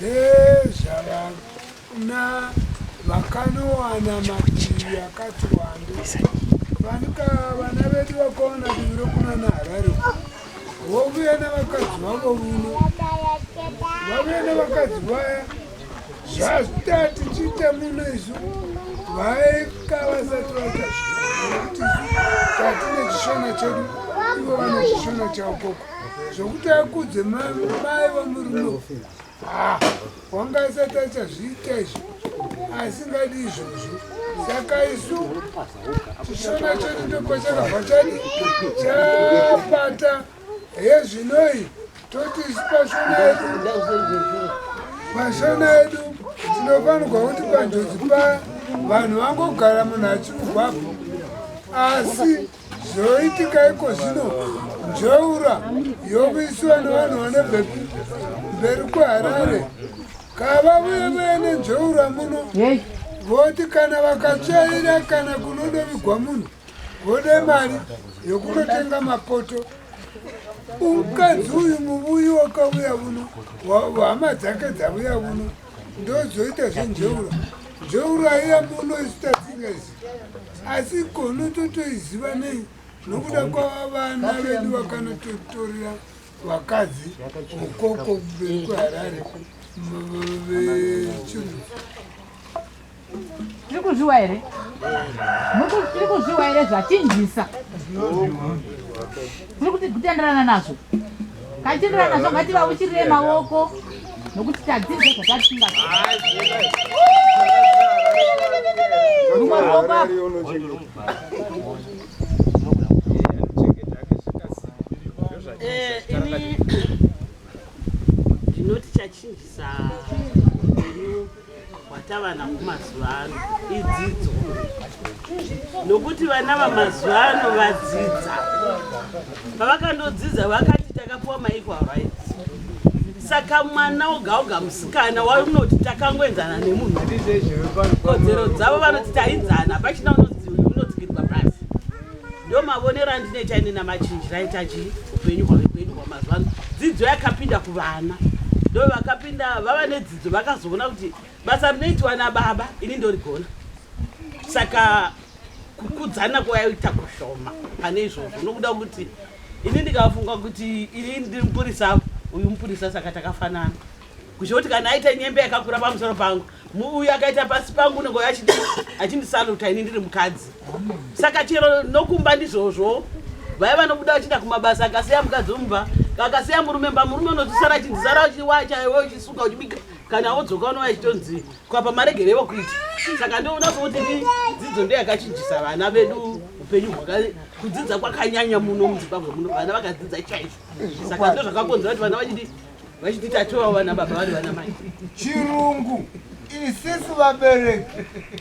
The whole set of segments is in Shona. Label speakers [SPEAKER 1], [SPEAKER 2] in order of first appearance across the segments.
[SPEAKER 1] Ndezvavana vakanowana mativi akati wande vanika vana vedu vakawana divi rokuna naharare vovuya nevakadzi vavo vuno vavuya nevakadzi vaya zvazvita tichiita muno isu vaika vasati vaita zvinokuti tatine chishona chedu ivo vane chishona chavo koko zvokuti akudze mai vamurume ah, wanga asati achazviita izvo asingadi izvozvo saka isu chishona chedu ndokwachakabva chadi chapata hezvinoi toti isu pashona yedu pashona yedu tinofanirwa kuti panjodzi pa vanhu vangogara munhu achiuvapo asi Zvoitika iko zvino njeura yokuisiwa nevanhu vane bhepi mberi kweharare kava vuye vuye nenjeura muno voti kana vakatsvaira kana kunodovigwa munhu vode mari yokunotenga mapoto umukadzi uyu muvuyi wakavuya vuno hama dzake dzavuya vuno ndozoita zvenjeura jeura iya munoita tsingazi asi kono totoiziva nei nokuda kwavana vedu vakanototorera vakadzi ukoko vekuharare vechiruu
[SPEAKER 2] Tiri kuzviwa here? Tiri kuzviwa here zvachinjisa? Tiri kuti kutenderana nazvo. Kachitenderana nazvo ngativauchirire maoko nokuti tadzidze zvatatinga. Rumwe ruoko apo. Eh, ini
[SPEAKER 3] ndinoti chachinjisa hwatavanako mazuva ano idzidzo nokuti vana vamazuva ano vadzidza pavakandodzidza vakati takapiwa maequal rights saka mwana oga oga musikana waunoti takangoenzana nemunhu kodzero dzavo vanoti taidzana pachina unonzi unodzikirwa pasi ndo mavonero andine chaine namachinjira aita chii upenyu hwave kwedu hwamazuva ano dzidzo yakapinda kuvana ndo vakapinda vava nedzi vakazoona kuti basa rinoitwa nababa ini ndorigona saka kukudzana kwayaita kushoma pane izvozvo nokuda kuti ini ndikafunga kuti ini ndiri mupurisa uyu mupurisa saka takafanana kuchoti kana aita nyembe yakakura pamusoro pangu muuyu akaita pasi pangu unenge achindisaluta ini ndiri mukadzi saka chero nokumba ndizvozvo vaya vanobuda vachienda kumabasa akasiya mukadzi omumba kakasiya murume mba murume unozvisara achinzisara uchiwachawe uchisuka uchibika kana wodzoka unova chitonzi kwapa maregerevo kuita saka ndoona sokuti ni dzidzo ndo yakachinjisa vana vedu upenyu hwaka kudzidza kwakanyanya muno muzimbabwe muno vana vakadzidza chaizvo saka ndo zvakakonzera kuti vana vachidi vachiti tatoa vana baba vari vana mai chirungu
[SPEAKER 4] isisi vabereki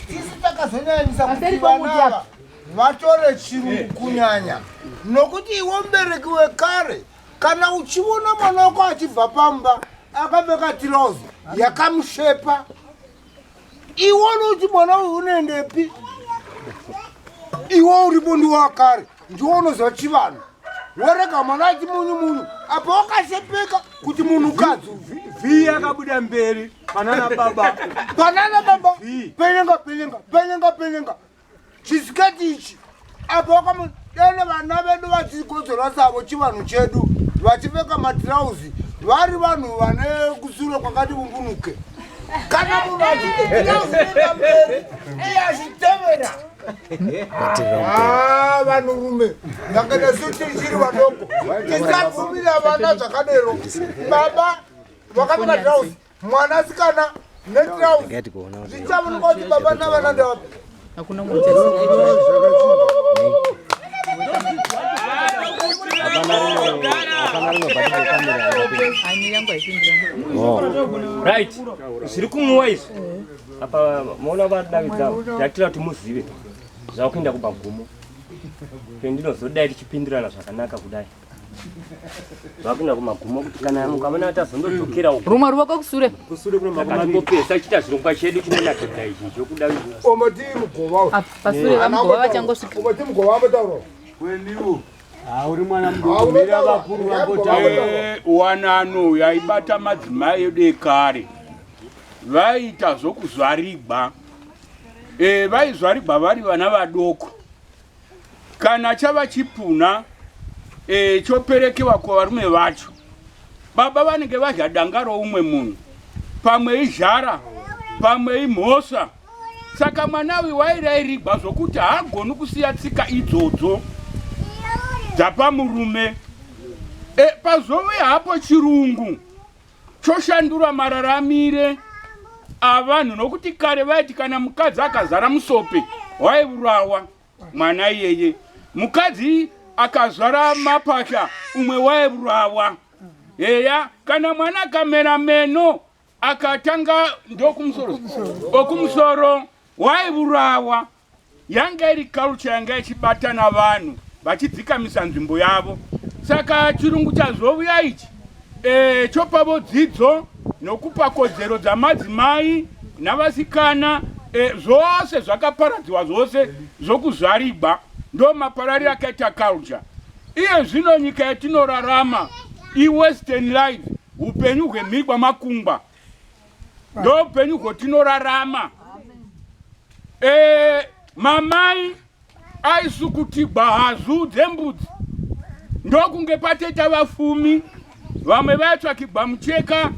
[SPEAKER 4] sisi takazonyanyisa kuti vanava vatore chirungu kunyanya nokuti iwo mubereki wekare kana uchiona mwana wako achibva pamba akapfeka tirozi yakamushepa iwe unoti mwana uyu unoendepi iwe uripo ndiwakare ndiwo unoziva chivanhu worega mwana aiti munyu munyu apa wakasepeka kuti munhu kadzi vhi yakabuda
[SPEAKER 5] mberi panana baba panana baba penyenga penyenga penyenga penyenga chisiketi ichi apo wakamudene vana vedu vachikodzora dzavo chivanhu chedu vachipfeka matirauzi vari vanhu vane kusure kwakati vumbunuke kana munhu achiiaamberi iye achitevera ah, vanhurume ndakaita sutichiri vadoko tisabvumira vana zvakadero baba vakapfeka tirauzi Mwana sikana netrous. Ngati kuona kuti. Ndichamu ngoti
[SPEAKER 2] baba na vana
[SPEAKER 5] ndo. Hakuna mwana. Right. Zviri kumuwa izvi. Apa maona vadavidza yatira kuti muzive zvakuenda kubagumo. Pendinozoda tichipindirana zvakanaka kudai. vakuna kumagumo kuti kana mukavona atazondodzokera uko rumwe ruvoko kusure
[SPEAKER 2] kusure kuna makumaringopesa
[SPEAKER 5] chita zvirongwa chedu chinonakidza izvi chokuda omati mugova
[SPEAKER 4] pasure vamugova
[SPEAKER 2] vachangosvika omati mugova ambotaura
[SPEAKER 4] kweniwo
[SPEAKER 1] hauri mwana mdomira vakuru
[SPEAKER 6] vakotaura wanano
[SPEAKER 1] eh,
[SPEAKER 6] yaibata madzimai
[SPEAKER 1] edu
[SPEAKER 6] ekare vaiita zvokuzvarigwa eh, vaizvarigwa vari vana vadoko kana chava chipuna e, choperekewa kuvarume vacho baba vanenge vadya danga roumwe munhu pamwe izhara pamwe imhosva saka mwana uyu wairairigwa zvokuti haagoni kusiya tsika idzodzo dzapamurume e, pazove hapo chirungu choshandura mararamire avanhu nokuti kare vaiti kana mukadzi akazara musope waivurawa mwana iyeye mukadzi akazvara mapasha umwe waivurawa heya kana mwana akamera meno akatanga ndokumusoro okumusoro waivurawa Yanga iri culture yanga ichibatana vanhu vachidzikamisa nzvimbo yavo. Saka chirungu chazovuya ichi e, chopavo dzidzo nokupa kodzero dzamadzimai navasikana e, zvose zvakaparadziwa zvose zvokuzvarigwa ndo maparariro akaita culture. Iye zvino nyika yatinorarama iwestern life upenyu hwemhirwa makungwa ndoupenyu hwotinorarama e, mamai aisukutigwa hazu dzembudzi ndokunge pateta vafumi vamwe vaitsvakigwa mucheka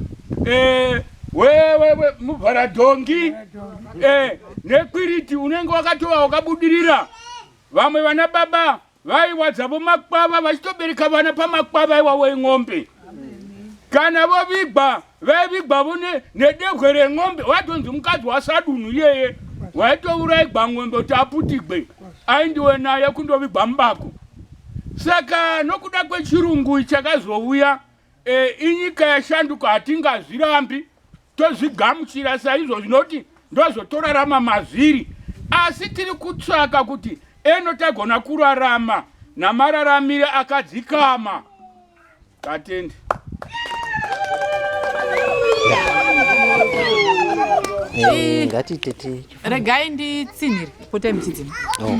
[SPEAKER 6] e, muvharadhongi e, nekwiriti unenge wakatova wakabudirira vamwe vana baba Vaiwadza vomakwava vachitobereka vana pamakwava iwawo en'ombe. Kana vovigwa vaivigwa vo nedehwe ren'ombe watonzi mukadzi wasadunhu iyeye waitouraigwa n'ombe kuti aputigwe aindiwe naye kundovigwa mubako. Saka nokuda kwechirungu chakazouya e, inyika yashanduka hatingazvirambi. Tozvigamuchira saizvo zvinoti ndozotorarama mazviri, asi tiri kutsvaka kuti eno tagona kurarama namararamire akadzikama. Vatendi.
[SPEAKER 2] Eh, eh, regai nditsinhire potai muchidzima oh.